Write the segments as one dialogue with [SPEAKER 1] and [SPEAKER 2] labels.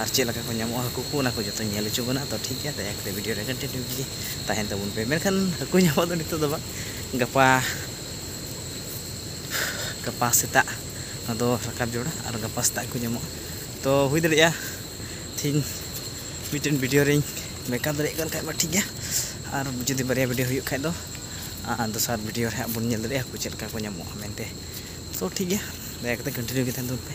[SPEAKER 1] ᱟᱨ ᱪᱮᱫ ᱞᱮᱠᱟ ᱠᱚ ᱧᱟᱢᱚᱜᱼᱟ ᱦᱟᱹᱠᱩ ᱠᱚ ᱚᱱᱟ ᱠᱚ ᱡᱚᱛᱚ ᱧᱮᱞ ᱦᱚᱪᱚ ᱵᱚᱱᱟ ᱛᱚ ᱴᱷᱤᱠ ᱜᱮᱭᱟ ᱫᱟᱭᱟ ᱠᱟᱛᱮ ᱵᱷᱤᱰᱤᱭᱳ ᱨᱮ ᱠᱚᱱᱴᱤᱱᱤᱭᱩ ᱜᱮ ᱛᱟᱦᱮᱱ ᱛᱟᱵᱚᱱ ᱯᱮ ᱢᱮᱱᱠᱷᱟᱱ ᱦᱟᱹᱠᱩ ᱧᱟᱢᱚᱜ ᱫᱚ ᱱᱤᱛᱚᱜ ᱫᱚ ᱵᱟᱝ ᱜᱟᱯᱟ ᱜᱟᱯᱟ ᱥᱮᱛᱟᱜ ᱱᱚᱣᱟ ᱫᱚ ᱨᱟᱠᱟᱵ ᱡᱚᱲᱟ ᱟᱨ ᱜᱟᱯᱟ ᱥᱮᱛᱟᱜ ᱠᱚ ᱧᱟᱢᱚᱜᱼᱟ ᱛᱚ ᱦᱩᱭ ᱫᱟᱲᱮᱭᱟᱜᱼᱟ ᱛᱤᱦᱤᱧ ᱢᱤᱫᱴᱮᱱ ᱵᱷᱤᱰᱤᱭᱳ ᱨᱤᱧ ᱢᱮᱠᱟᱯ ᱫᱟᱲᱮᱭᱟᱜ ᱠᱟᱱ ᱠᱷᱟᱡ ᱢᱟ ᱴᱷᱤᱠ ᱜᱮᱭᱟ ᱟᱨ ᱡᱩᱫᱤ ᱵᱟᱨᱭᱟ ᱵᱷᱤᱰᱤᱭᱳ ᱦᱩᱭᱩᱜ ᱠᱷᱟᱡ ᱫᱚ ᱟᱨ ᱫᱚᱥᱟᱨ ᱵᱷᱤᱰᱤᱭᱳ ᱨᱮ ᱦᱟᱸᱜ ᱵᱚᱱ ᱧᱮᱞ ᱫᱟᱲᱮᱭᱟᱜᱼᱟ ᱦᱟᱹᱠᱩ ᱪᱮᱫ ᱞᱮᱠᱟ ᱠᱚ ᱧᱟᱢᱚᱜᱼᱟ ᱢᱮᱱᱛᱮ ᱛᱚ ᱴᱷᱤᱠ ᱜᱮᱭᱟ ᱫᱟᱭᱟ ᱠᱟᱛᱮ ᱠᱚᱱᱴᱤᱱᱤᱭᱩ ᱜᱮ ᱛᱟᱦᱮᱱ ᱛᱟᱵᱚᱱ ᱯᱮ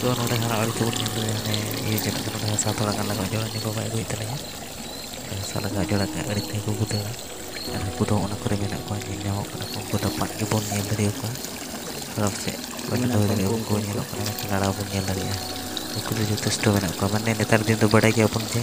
[SPEAKER 1] ᱛᱚ ᱱᱚᱰᱮ ᱦᱟᱨᱟᱜ ᱟᱹᱞᱩ ᱠᱚᱵᱚᱱ ᱧᱮᱞ ᱞᱮᱜᱮ ᱢᱟᱱᱮ ᱤᱭᱟᱹ ᱠᱮᱫᱟ ᱠᱚ ᱱᱚᱰᱮ ᱦᱟᱥᱟ ᱛᱷᱚᱲᱟ ᱜᱟᱱ ᱞᱟᱜᱟᱣ ᱡᱚᱲᱟ ᱱᱤᱠᱚ ᱵᱟᱭ ᱟᱹᱜᱩᱭᱮᱫ ᱛᱟᱹᱞᱤᱧᱟ ᱱᱚᱰᱮ ᱦᱟᱥᱟ ᱞᱟᱜᱟᱣ ᱡᱚᱲᱟ ᱠᱷᱟᱱ ᱟᱹᱰᱤ ᱛᱮᱜᱮ ᱠᱚ ᱫᱟᱹᱲᱟ ᱟᱨ ᱦᱟᱹᱠᱩ ᱫᱚ ᱚᱱᱟ ᱠᱚᱨᱮ ᱢᱮᱱᱟᱜ ᱠᱚᱣᱟ ᱧᱮᱞ ᱧᱟᱢᱚᱜ ᱠᱟᱱᱟ ᱠᱚ ᱩᱱᱠᱩ ᱫᱚ ᱯᱟᱫ ᱜᱮᱵᱚᱱ ᱧᱮᱞ ᱫᱟᱲᱮ ᱟᱠᱚᱣᱟ ᱛᱷᱚᱲᱟ ᱯᱟᱥᱮᱡ ᱵᱟᱹᱧ ᱫᱚᱦᱚ ᱫᱟᱲᱮ ᱟᱠᱚᱣᱟ ᱩᱱᱠᱩ ᱧᱮᱞᱚᱜ ᱠᱟᱱᱟ ᱢᱮᱱᱠᱷᱟᱱ ᱞᱟᱲᱟᱣ ᱵᱚᱱ ᱧᱮᱞ ᱫᱟᱲᱮᱭᱟᱜᱼᱟ ᱩᱱᱠᱩ ᱫᱚ ᱡᱚᱛᱷᱮᱥᱴᱚ ᱢᱮᱱᱟᱜ ᱠᱚᱣᱟ ᱢᱟᱱᱮ ᱱᱮᱛᱟᱨ ᱫᱤᱱ ᱫᱚ ᱵᱟᱰᱟᱭ ᱜᱮᱭᱟᱵᱚᱱ ᱡᱮ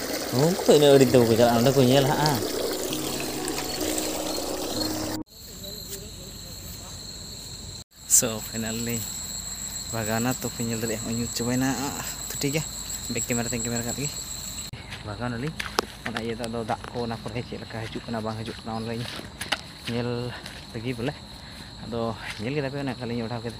[SPEAKER 1] ᱩᱱᱠᱩ ᱫᱚ ᱤᱱᱟᱹᱜ ᱟᱹᱲᱤᱥ ᱫᱚ ᱵᱟᱠᱚ ᱪᱟᱞᱟᱜᱼᱟ ᱚᱸᱰᱮ ᱠᱚ ᱧᱮᱞ ᱦᱟᱸᱜᱼᱟ ᱥᱚ ᱯᱷᱟᱭᱱᱟᱞᱤ ᱵᱷᱟᱜᱟᱣᱱᱟ ᱛᱚ ᱯᱮ ᱧᱮᱞ ᱫᱟᱲᱮᱭᱟᱜᱼᱟ ᱦᱚᱸᱜᱼᱚᱭ ᱧᱩᱛ ᱪᱟᱵᱟᱭᱮᱱᱟ ᱛᱚ ᱴᱷᱤᱠ ᱜᱮᱭᱟ ᱵᱮᱠ ᱠᱮᱢᱮᱨᱟ ᱛᱮᱧ ᱠᱮᱢᱮᱨᱟ ᱠᱟᱜ ᱞᱮᱜᱮ ᱵᱷᱟᱜᱟᱣᱱᱟᱞᱤᱧ ᱚᱱᱟ ᱤᱭᱟᱹ ᱫᱚ ᱟᱫᱚ ᱫᱟᱜ ᱠᱚ ᱚᱱᱟ ᱠᱚᱨᱮ ᱪᱮᱫ ᱞᱮᱠᱟ ᱦᱤᱡᱩᱜ ᱠᱟᱱᱟ ᱵᱟᱝ ᱦᱤᱡᱩᱜ ᱠᱟᱱᱟ ᱚᱱᱟᱞᱤᱧ ᱧᱮᱞ ᱞᱟᱹᱜᱤᱫ ᱵᱚᱞᱮ ᱟᱫᱚ ᱧᱮᱞ ᱠᱮᱫᱟ ᱯᱮ ᱚᱱᱮ ᱚᱱᱠᱟᱞᱤᱧ ᱚᱰᱟᱣ ᱠᱮᱫᱟ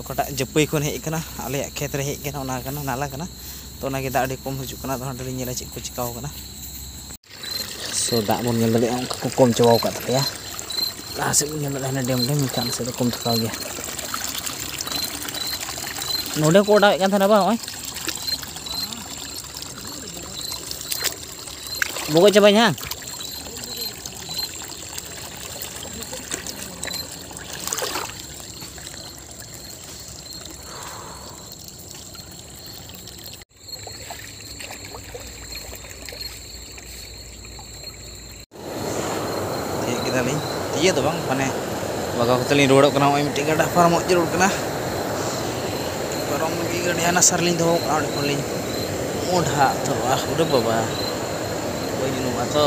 [SPEAKER 1] ᱚᱠᱟᱴᱟᱜ ᱡᱟᱹᱯᱟᱹᱭ ᱠᱷᱚᱱ ᱦᱮᱡ ᱟᱠᱟᱱᱟ ᱟᱞᱮᱭᱟᱜ ᱠᱷᱮᱛ ᱨᱮ ᱦᱮᱡ ᱟᱠᱟᱱᱟ ᱚᱱᱟ ᱠᱟᱱᱟ ᱱᱟᱞᱟ ᱠᱟᱱᱟ ᱛᱚ ᱚᱱᱟ ᱜᱮ ᱫᱟᱜ ᱟᱹᱰᱤ ᱠᱚᱢ ᱦᱤᱡᱩᱜ ᱠᱟᱱᱟ ᱟᱫᱚ ᱦᱟᱸᱰᱮ ᱞᱤᱧ ᱧᱮᱞᱟ ᱪᱮᱫ ᱠᱚ ᱪᱤᱠᱟᱹᱣ ᱠᱟᱱᱟ ᱥᱚ ᱫᱟᱜ ᱵᱚᱱ ᱧᱮᱞ ᱫᱟᱲᱮᱭᱟᱜᱼᱟ ᱚᱱᱠᱟ ᱠᱚ ᱠᱚᱢ ᱪᱟᱵᱟᱣ ᱟᱠᱟᱫ ᱛᱟᱞᱮᱭᱟ ᱞᱟᱦᱟ ᱥᱮᱫ ᱵᱚᱱ ᱧᱮᱞ ᱫᱟᱲᱮᱭᱟᱜᱼᱟ ᱦᱟᱱᱮ ᱰᱮᱢ ᱰᱮᱢ ᱢᱮᱱᱠᱷᱟᱱ ᱟᱞᱮ ᱥᱮᱫ ᱫᱚ ᱠᱚᱢ ᱛᱷᱟᱠᱟᱣ ᱜᱮᱭᱟ ᱱᱚᱰᱮ ᱠᱚ ᱚᱰᱟᱣᱮᱫ ᱠᱟᱱ ᱛᱟᱦᱮᱱᱟ ᱵᱟᱝ ᱱᱚᱜᱼᱚᱭ ᱵᱚᱜᱚᱡ ᱪᱟᱵᱟᱭ ᱦᱟᱝ ᱤᱭᱟᱹ ᱫᱚ ᱵᱟᱝ ᱢᱟᱱᱮ ᱵᱟᱜᱟᱣ ᱠᱟᱛᱮ ᱞᱤᱧ ᱨᱩᱣᱟᱹᱲᱚᱜ ᱠᱟᱱᱟ ᱱᱚᱜᱼᱚᱭ ᱢᱤᱫᱴᱤᱡ ᱜᱟᱰᱟ ᱯᱟᱨᱚᱢᱚᱜ ᱡᱟᱹᱨᱩᱲ ᱠᱟᱱᱟ ᱯᱟᱨᱚᱢ ᱞᱟᱹᱜᱤᱫ ᱜᱟᱹᱰᱤ ᱦᱟᱱᱟ ᱥᱟᱨ ᱞᱤᱧ ᱫᱚᱦᱚ ᱠᱟᱜᱼᱟ ᱚᱸᱰᱮ ᱠᱷᱚᱱ ᱞᱤᱧ ᱢᱚᱰᱷᱟ ᱩᱛᱟᱹᱨᱚᱜᱼᱟ ᱩᱰᱟᱹ ᱵᱟᱵᱟ ᱵᱟᱹᱧ ᱩᱱᱩᱢᱚᱜᱼᱟ ᱛᱚ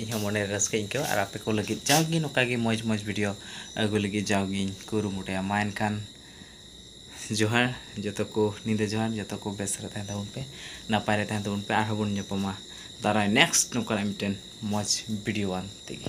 [SPEAKER 1] ᱤᱧᱦᱚᱸ ᱢᱚᱱᱮᱨᱮ ᱨᱟᱹᱥᱠᱟᱹᱧ ᱟᱹᱭᱠᱟᱹᱣᱟ ᱟᱨ ᱟᱯᱮ ᱠᱚ ᱞᱟᱹᱜᱤᱫ ᱡᱟᱣᱜᱮ ᱱᱚᱝᱠᱟ ᱜᱮ ᱢᱚᱡᱽ ᱢᱚᱡᱽ ᱵᱷᱤᱰᱤᱭᱳ ᱟᱹᱜᱩ ᱞᱟᱹᱜᱤᱫ ᱡᱟᱣᱜᱮᱧ ᱠᱩᱨᱩᱢᱩᱴᱩᱭᱟ ᱢᱟ ᱮᱱᱠᱷᱟᱱ ᱡᱚᱦᱟᱨ ᱡᱚᱛᱚ ᱠᱚ ᱧᱤᱫᱟᱹ ᱡᱚᱦᱟᱨ ᱡᱚᱛᱚ ᱠᱚ ᱵᱮᱥ ᱨᱮ ᱛᱟᱦᱮᱱ ᱛᱟᱵᱚᱱ ᱯᱮ ᱱᱟᱯᱟᱭ ᱨᱮ ᱛᱟᱦᱮᱱ ᱛᱟᱵᱚᱱ ᱯᱮ ᱟᱨᱦᱚᱸ ᱵᱚᱱ ᱧᱟᱯᱟᱢᱟ ᱫᱟᱨᱟᱭ ᱱᱮᱠᱥᱴ ᱱᱚᱝᱠᱟᱱᱟᱜ ᱢᱤᱫᱴᱮᱱ ᱢᱚᱡᱽ ᱵᱷᱤᱰᱤᱭᱳ ᱟᱱ ᱛᱮᱜᱮ